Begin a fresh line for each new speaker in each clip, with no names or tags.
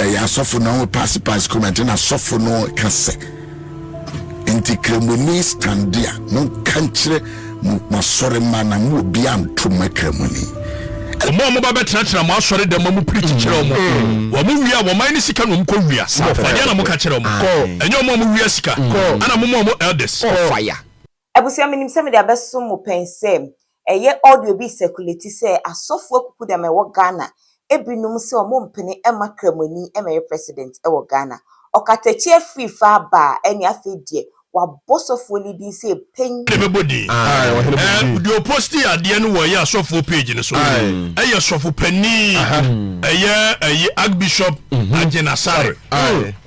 ɛyɛ asɔfo na wɔn paase paase kɔmɛ nti na asɔfo no ka sɛ nti kremoni stande a mo nka nkyerɛ mo asɔre mma na mo obi antom kremoni. wɔn a
wɔba bɛtenatena mo asɔre dɛm ma mo piri kyekyerɛ wɔn mm. wɔn mo wia wɔn ayɛ ne sika na wɔn kɔ wia wɔn adeɛ na mo ka kyerɛ wɔn ɛnyɛ wɔn a mo wia sika ɛna mo ma wɔn elders.
Abusua menim sɛ mede abɛso mo pɛn sɛ ɛyɛ audio bi circulate sɛ asɔfoɔ akuku dɛm ɛwɔ Ghana binom sɛ ɔmo mpene mma Kramoni mmɛyɛ president wɔ Ghana. Ɔkatakyie afiri fa aba a ɛne afei deɛ wabɔ sɔfoɔ no din sɛ pɛn. Na ɛbɛbɔ din.
Ɛɛ deɛ ɔpostii adeɛ no wɔ ɛyɛ asɔfoɔ page no so ɛyɛ sɔfo panin ɛyɛ ɛyi Archbishop Agyena Sarr.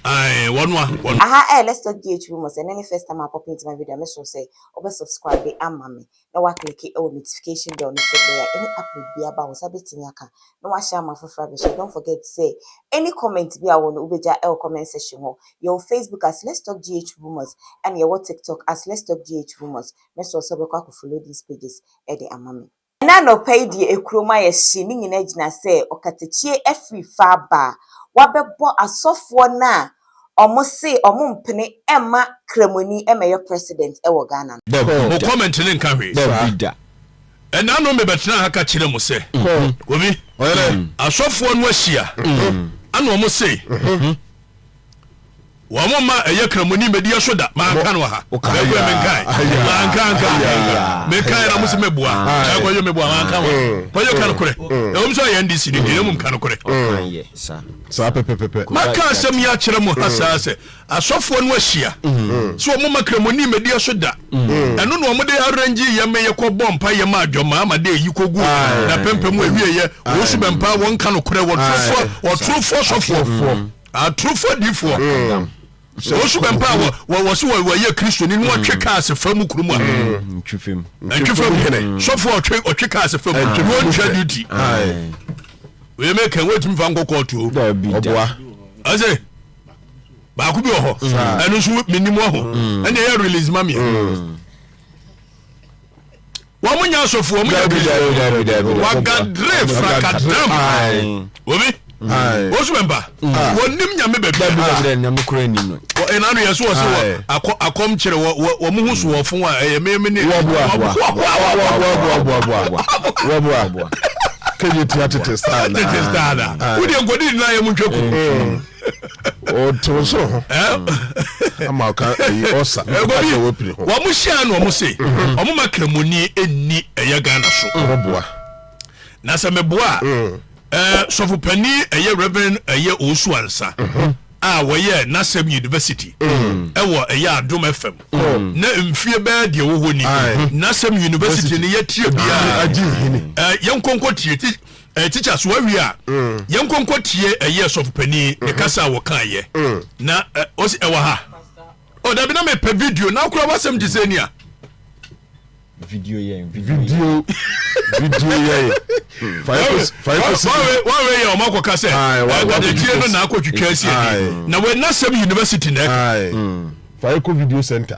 Ae wɔn a wɔn. Aha ɛyɛ let's
talk DH room ɔsɛ ɛnɛ ne first time a pɔpi nti ma video a mɛsrɛ wo sɛ wobɛ subscribe ama me na woaclicke wɔ notification bell no sɛdeɛ a any upload biara ba wo nsa bɛtumi aka na woahyɛ ama afoforɔ abɛhyɛ don't forget sɛ any comment bi a wowɔ no wobɛgya wɔ comment section hɔ yɛwɔ Facebook as let's talk DH rumors ɛna yɛwɔ TikTok as let's talk DH rumors mɛsrɛ wo sɛ wobɛkɔ akɔ follow these pages ɛde ama me Ɛna anɔpa yi deɛ ekurom ayɛ hye ne nyina gyina sɛ ɔkatakyie afiri fa aba a wabɛbɔ asɔfoɔ no a ɔmo se ɔmo mpene ɛmma kramoni ɛmɛyɔ president ɛwɔ Ghana no. Bob, mo comment no
nka hwee saa. Ɛna no mebɛtenaa ha ka kyerɛɛ mo sɛ obi, asɔfoɔ no ahyia ɛna ɔmo se wɔn mma ɛyɛ kramoni medi ɛso da manka no ha ɛkɔ yɛ menkae manka nka menkae na musi meboa ɛkɔ yɛ meboa manka wa kɔ yɛ kan korɛ ɛwɔm sɛ ɔyɛ ndc ne deɛ mum kan korɛ
saa pɛpɛpɛpɛ maka asɛm yi akyerɛ
mo ha saa sɛ asɔfoɔ no ahyia sɛ wɔn mma kramoni medi ɛso da ɛno na wɔn de arrange yɛ me yɛ kɔ bɔ mpa yɛ ma adwɔma ama de eyi kogu na pɛmpɛ mu ewie yɛ wɔn su bɛmpa wɔn kan korɛ wɔtorofoɔ wɔtorofoɔ sɔfoɔ atorofo adiifoɔ mm. wɔsu bɛ mpa wɔ se wɔyɛ kristoni ne wɔtwe mm. kaa se fa mu kurom a mm.
ntwefam hene
sɔfoɔ ɔtwe kaa se fa mu ne wɔntwa duty wei meka wɔtumi fa nkɔ kɔɔto ɔboa
ɛsɛ
baako bi wɔ hɔ ɛno nso menim wɔ ho ɛne ɛyɛ release ma meɛ Wɔn nyɛ asɔfo, wɔn nyɛ kristu. Wagadre frakadam. Obi. Osu mɛmpa. Wɔnim nyame baabi.
Ɛna no yɛ so wɔ se wɔ
akɔ akɔm kyerɛ wɔ wɔn ho so wɔ fon a ɛyɛ mɛmɛ ne. Wɔboa boa wɔboa boa boa
wɔboa boa. Kɛnyɛ tia tete star na. Tete star na. Wudi nkɔdi
nyinaa yɛ mu ntwa ku.
ɔte wo soro ho ama ɔka ayi ɔsa ɛkɔbi wɔn
hyia na wɔn se wɔn ma kramoni ɛnni ɛyɛ Ghana so wɔn boa
na
sɛ meboa ɛɛ sɔfo panin ɛyɛ Reverend ɛyɛ Owusu Ansa a wɔyɛ n'asɛm university mm. ɛwɔ ɛyɛ adom fm mm. na mfie bɛɛ deɛ wɔ hɔ ni n'asɛm university no yɛtie biara yɛn nkonko tie ti Eh, teacher so awie a mm. yɛn nkɔnkɔ tie ɛyɛ eh, sɔfo panyin ne mm-hmm. kasa a wɔkan yɛ mm. na eh, ɔsi ɛwɔ ha ɔ oh, dabi na mepɛ video na akora wasɛm gye sɛ nia
video yɛn
video video yɛn wawe yɛ ɔmo akɔka sɛ ɛdadetie eh, no na akɔtwitwa asi ɛdi na wɛnasɛm university na ɛka mm. fayeko
video center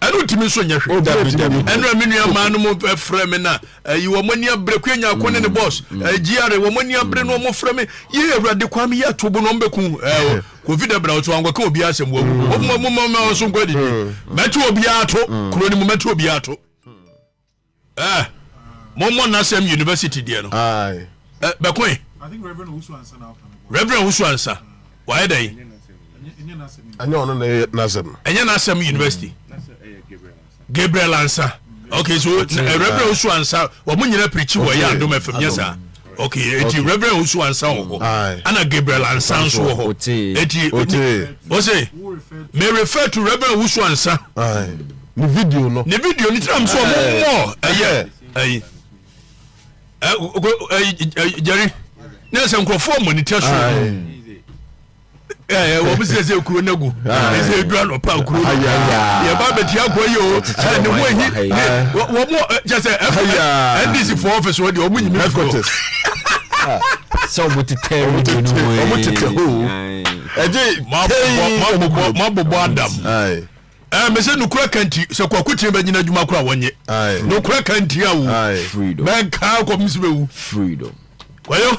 ɛno ntumi nso nyɛ hwee dabi dabi ɛno a me nua maa no mu frɛ me na ayi wɔn ani abere kwe nya akɔ ne ne boss gr wɔn ani abere no wɔn frɛ me yɛ awurade kwan mi yɛ ato bo na wɔn bɛku ɛɛ covid abira wɔn so wɔn akɔka obi asɛm wɔn mu wɔn mu wɔn mu wɔn so nkɔ adidi mɛto obi ato kuro ne mu mɛto obi ato. Eh, mommɔ n'asɛm university deɛ no. Aye. Eh, bɛkoe. I think Reverend
Owusu Ansa na ɔka no. Reverend Owusu Ansa,
wayɛ dɛn? Ɛnyɛ n'asɛm.
Ɛnyɛ ɔno na ɛyɛ n'asɛm. Ɛnyɛ n'asɛm
university. Gabriel Ansa. Okay, so eh, Reverend Owusu Ansa, wɔn nyinaa pirikyi wɔ yɛ adom fam, nyɛ saa? ok eti okay. reverend osu ansa wɔ hɔ ana gabriel ansa nso wɔ hɔ eti ose may refer to reverend osu ansa ne
video no ne video no tiram so ɔmo
mɔ ɛyɛ ɛyi ɛyi jerry ne ɛsɛ nkurɔfoɔ mɔ ne tɛ so. wɔn sɛ sɛ kuro no gu ɛsɛ edu anɔpa kuro no yɛba bɛti akɔ yi o ne ho ahi ne wɔn kyɛ sɛ ndc fo ɔfis wɔ deɛ wɔn nyimi furo
sɛ wɔn tetɛ wɔn tetɛ wɔn tetɛ ho ɛgye
kɛyi mabobɔ adam ɛɛ mɛ sɛ nukura kanti sɛ kɔ akutin bɛ nyina adwuma kora wɔnyɛ nukura kanti awo mɛ nkaa kɔ misi bɛ wu freedom
wɔyɔ.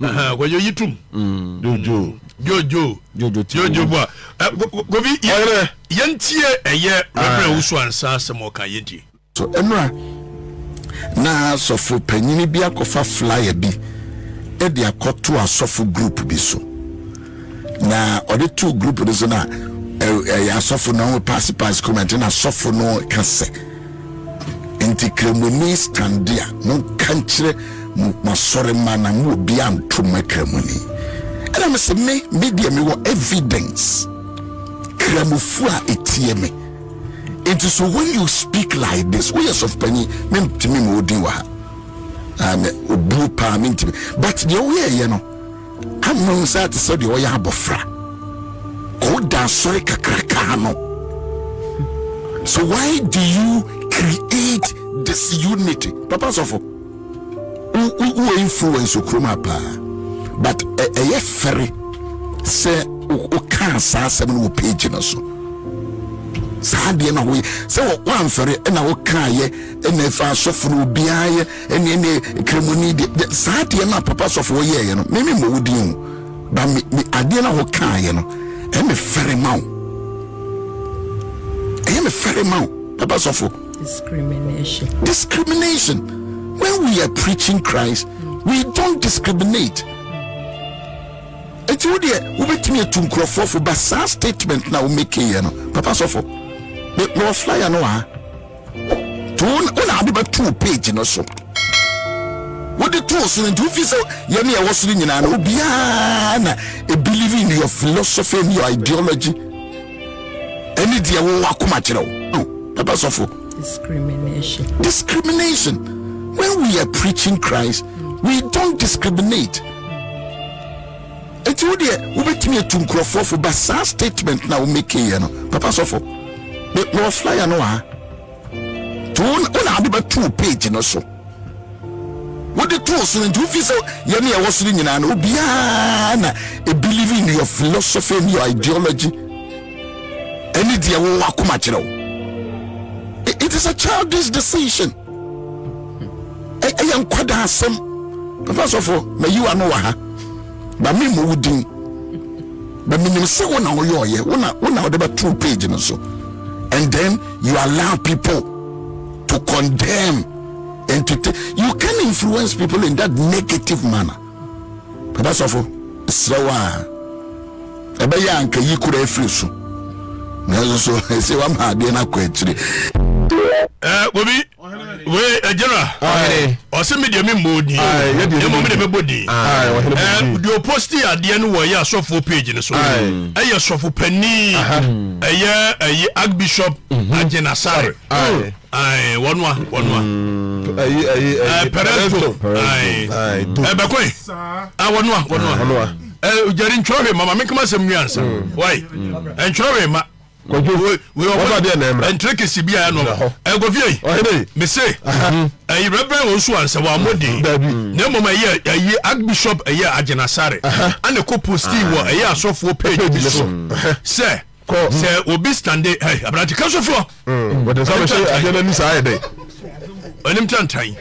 kɔjɔ yi tum jojo jojo jojo jojo bua kofi yɛntie ɛyɛ rɛbrɛ wusu ansa asɛm ɔka yɛntie so ɛnora
na asɔfo panyini bi akɔfa flyer bi ɛde akɔto asɔfo group bi so na ɔde to group no so na ɛyɛ asɔfo na ɔmo pass pass comment na asɔfo no kasa Enti Kramoni stande a, monka nkyerɛ mo asɔremma no a mo obiara nto mma Kramoni. Ɛna me se, me, me deɛ me wɔ evidence, Kramofoɔ a etie me. Enti so when you speak like this, woyɛ sɔfopanyin, me ntumi ma odin wɔ ha. Ah, me, obuo paa, me ntumi. But deɛ woyɛɛyɛ no, Ama wo saa te sɛ deɛ ɔyɛ abɔfra ɔwo da asɔre kakrakaa no so why do you create this unity papa sɔfo wowɔ influence okurom apaa but ɛyɛ fɛre sɛ wokaa saa asɛm no wɔ page no so saa deɛ na woyɛ sɛ woamfɛre na wokaayɛ na ɛfa asɔfo no obiaa yɛ ɛne ɛne kremoni deɛ saa deɛ no a papa sɔfoɔ yɛɛyɛ no meme mmɔ wo din o ba me me adeɛ no a wokaayɛ no ɛyɛ me fɛre ma wo ɛyɛ me fɛre ma wo papa sɔfo discrimination discrimination when we are preaching Christ we don't discriminate eti wo deɛ wobɛtumi atu nkurɔfoɔ fo ba saa statement na womekeyɛ no papa sɔfo mewɔ flyer no wɔ ha nti wo na ade bɛtoo page no so wode too so no nti wofi sɛ yɛne ɛwɔ soro nyinaa no obiara na believe in your philosophy and your ideology ɛne deɛ wowɔ akoma kyerɛ wo ɛbɛ sɔfo discrimination discrimination when we are preaching christ we don't discriminate Enti wo deɛ wobɛtumi atu nkurɔfoɔ fo ba saa statement na wo make yɛ no papa sɔfo me mewɔ flyer no wɔ ha to wo na wode bɛto wo page no so wode to so no nti wofi sɛ yɛne ɛwɔ soro nyinaa no obiara na believe in your philosophy and your ideology ɛne deɛ wowɔ akoma kyerɛ wo it is a childish decision ɛyɛ nkwadaa asɛm papa sɔfo mayiwa no wɔ ha ba me mu wo din ba menim sɛ wo na woyɛ ɔyɛ wo na wo na wode bɛto page no so and then you allow people to condemn and to you can influence people in that negative manner Papa sɔfo, mesrɛ wo a, ɛbɛyɛ a anka yi kura afiri so. Nanso so, ɛsɛ wama adeɛ no akɔ akyire. Eh,
bobi wei eh, general ɔsɛ me deɛ memmɔ din mmom de mɛbɔ din deɛ ɔposti adeɛ no wɔyɛ asɔfoɔ page no so ɛyɛ sɔfo pani ɛyɛ ɛyɛ archbishop mhm. agyenasare ayi wɔnoa wɔnoa mm. ayi ayi ayi pɛrɛnto ayi ɛbɛkɔ yi a wɔnoa wɔnoa ɛ jɛri ntwerɛ hwɛ ma ma mi kama sɛm nwi ansa wayi ntwerɛ hwɛ ma ɛntere kesi bi a ɛnɔ ɛgɔfie yi mese ɛyi rɛbrɛ wɔn so ansa wɔn amɔ den na mmom ɛyɛ ɛyɛ archbishop ɛyɛ agyenasare ɛna kɔ posti wɔ ɛyɛ asɔfoɔ page bi so sɛ. kɔ sɛ obi stande ɛ aberante ka so foɔ mm, wɔde nsa bɛhyɛ
adeɛ no ani saa yɛ dɛ ɔnim
tantan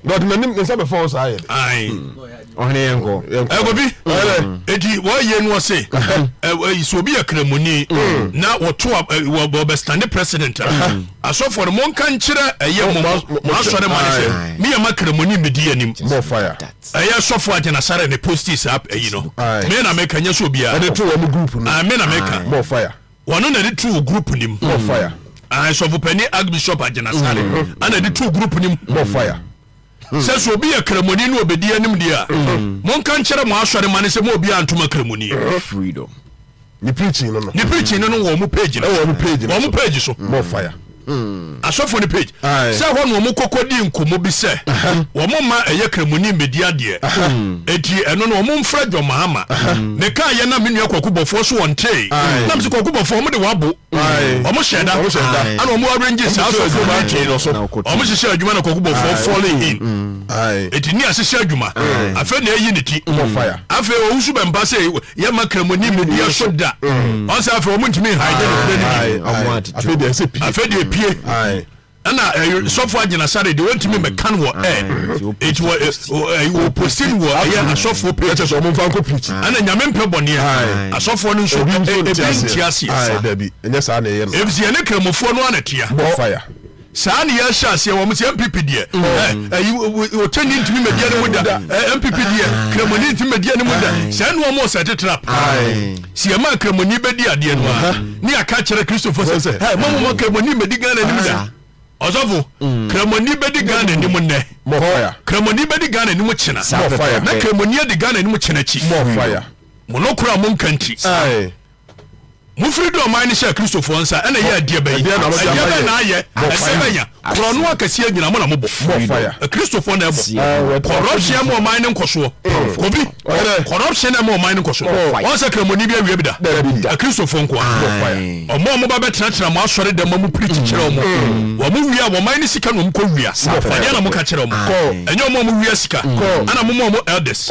na ɔde n'anim ne nsa bɛfa wo saa yɛ dɛ mm. ɔhene
yɛ nkɔ ɛkɔbi mm.
eti wɔyɛ no ɔse sɛ obi yɛ kramoni na wɔto wɔbɛstande president a asɔfoɔ no monka nkyerɛ ɛyɛ mo asɔre ma ne sɛ meyɛ ma kramoni medi anim
Ɛyɛ sɔfo agyina
sare ne postis app ayi no. Me na meka nyɛ sɛ obiara. Ɛde to wɔn group
no. Ah,
me na meka.
More
fire.
Wɔn
na ɛde to
wɔ group nim.
More fire. Ah, sɔfo panin Archbishop agyina sare. Ana ɛde to group nim. More fire.
Sɛ sɛ
obi yɛ kramoni na obedi anim deɛ a, monka nkyerɛ mo asɔre ma ne sɛ mo obiara ntoma kramoni. Freedom.
ne preaching
no no ne preaching no no wɔ ɔmo
page no ɛwɔ ɔmo page no ɔmo page
so more
fire hmm.
asɔfo
ne page sɛ hɔ na ɔmo kɔkɔ di nkɔmɔ bi sɛ ɔmo ma ɛyɛ kremoni mbedi adeɛ eti ɛno no ɔmo nfrɛ John Mahama ne kaa yɛ na me nua kɔkɔ bɔfoɔ so wɔn tee nam sɛ kɔkɔ bɔfoɔ ɔmo de wabo ɔmo hyɛ da ɛna ɔmo arrange saa asɔfo no ti no ɔmo hyehyɛ adwuma na kɔkɔ bɔfoɔ falling in hmm. eti ni ahyehyɛ adwuma afɛ na eyi ne ti afɛ
owusu bɛmpa
sɛ yɛ ma kramoni mu diɛ so da mm. ɔsɛ afei ɔmo ntumi nhan yɛ nokura no bi afei deɛ ɛsɛ pie afei
deɛ pie
ɛna eh, sɔfo agyina sare deɛ wɔntumi mm. mɛkan wɔ ɛ eti wɔ wɔ postin wɔ ɛyɛ asɔfo page ɛkyɛ sɛ ɔmo nfa nkɔ pirikyi ɛna nyame mpɛ bɔneɛ asɔfo no nso ebi nti aseɛ ɛnyɛ
saa na ɛyɛ no ebi si ɛne kramofoɔ
no ana tia bɔ fire.
Saa ne yɛ
hyɛ aseɛ wɔn sɛ MPP deɛ ɛyi ɔkyɛni ntumi mɛdiɛ ne mu da MPP deɛ kramoni ntumi mɛdiɛ ne mu da sɛ ɛnu wɔn ɔsɛ tete trap si ɛma kramoni bɛdi adeɛ no a ne aka kyerɛ kristofo sɛ sɛ ɛ mɔmu mɔ kramoni mɛdi Ghana anim da ɔsɔfo kramoni bɛdi Ghana anim nnɛ kramoni
bɛdi Ghana anim
kyena na kramoni
adi Ghana
anim kyena akyi mo
no kora mo nka
nti
Mofiri
de ɔman no hyɛɛ Kristofoɔ nsa na ɛyɛ adeɛ bɛyi, ɛdeɛ bɛn na ayɛ, ɛdeɛ bɛn ya, korɔno akɛseɛ nyina mo na mobɔ, Kristofoɔ
na
ɛbɔ, corruption ɛma ɔman no nkɔsoɔ, Kobi, corruption ɛma ɔman no nkɔsoɔ, wɔn sɛ kramoni bi awia bi da, Kristofoɔ nkoa, ɔmo ɔmo ba bɛtenatena mo asɔre dɛm ma mo piri kyekyerɛ ɔmo, wɔn mo wia, wɔn man no sika na ɔmo kɔ wia, ɛdeɛ na mo ka kyerɛ ɔmo, ɛnyɛ ɔmo a mo wia sika, ɛna mo mo ɔmo elders.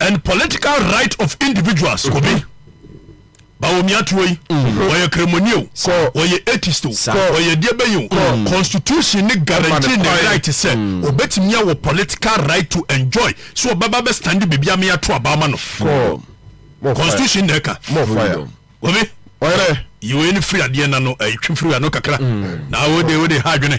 and political right of individuals mm-hmm. kobi bawomia tuo yi mm-hmm. wɔyɛ kremoni o wɔyɛ atheist o wɔyɛ deɛ bɛyɛ o mm. constitution ne guarantee ne right sɛ mm. obetumi awɔ political right to enjoy so ɔbɛba bɛ stand biribi ame ato abama no constitution na ɛka obi ɔyɛ
yiwe ne firi
adeɛ na no ɛtwi firi ano kakra mm. na wode wode ha adwene.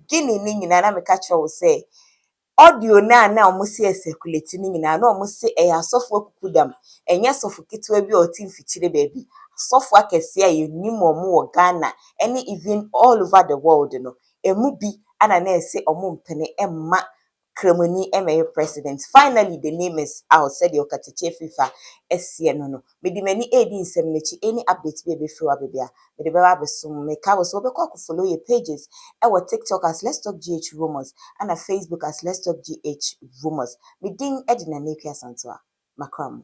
Guinea no nyinaa na meka kyerɛ wo sɛ audio no a na wɔn si ɛsɛkuleti no nyinaa na wɔn se ɛyɛ asɔfo akukudam ɛnyɛ sɔfo ketewa bi a ɔte mfikyire baabi asɔfo akɛseɛ a yɛnim wɔn wɔ Ghana ɛne even all over the world no ɛmu bi ɛna na ɛse wɔn mpene ɛmma Kramoni mmɛyɛ president. Finally the name is out sɛdeɛ ɔkatakyie fifa seɛ no no. Mede m'ani redi nsɛm no akyi, any update bi a ɛbɛfiri w'aba bia, mede bɛba abɛso mo. Meka wo sɛ wobɛkɔ akɔ follow yɛ pages wɔ TikTok as Let's Talk GH Rumours ɛna Facebook as Let's Talk GH Rumours. Me din de Nana Akua Santoa. Makra mo.